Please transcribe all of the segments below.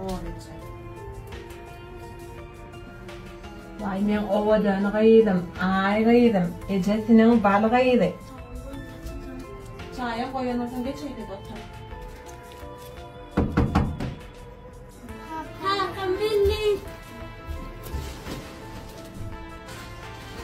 Owadançy. Waý meň owadan gyzym, aý gyzym, ejesiniň bal gyzy. Çaýam goýanoksan geç öýde-de otur. Kakam geldi.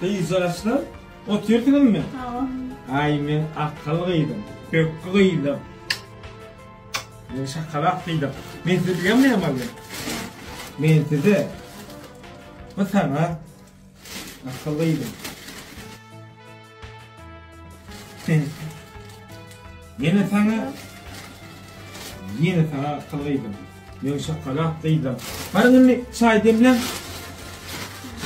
Gyzjagazlar, otyrsyňyzmy? Hawa. Aý meň akgall gyzym, pökgi gyzym. Men şakalak diýdim. Men size diýemmeýem bolýar. Men size bu sana akyllyydym. Yine sana Yine sana akıllıydym. Men şakalak diýdim. Barın indi çay demlen.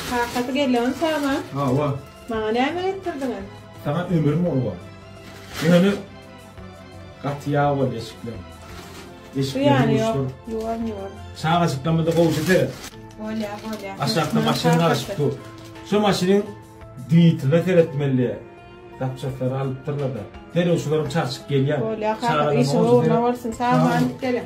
Kakasy gelýän sana. Hawa. Maňa näme etdirdiňiz? Sana ömrüm bolýar. Ýöne Gaty ýag boldy eşikler. Eşikler ýuwuşdyr. Ýuwan ýuwan. Çagajyklarymyza gowja seret. Bolýa bolýa. Aşakda maşyn garyşyp dur. Şu maşynyň dwitine seretmeli. Zapçaslary alypdyrlar da. Derrew şularym çarçyk gelýär. Bolýa kaka işiň ugruna bolsun. Sag boluň geliň.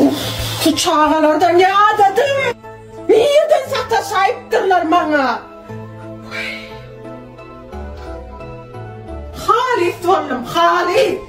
Uff şu çagalardan ýadadym. Nireden sataşaýypdyrlar maňa. Halys boldum halys.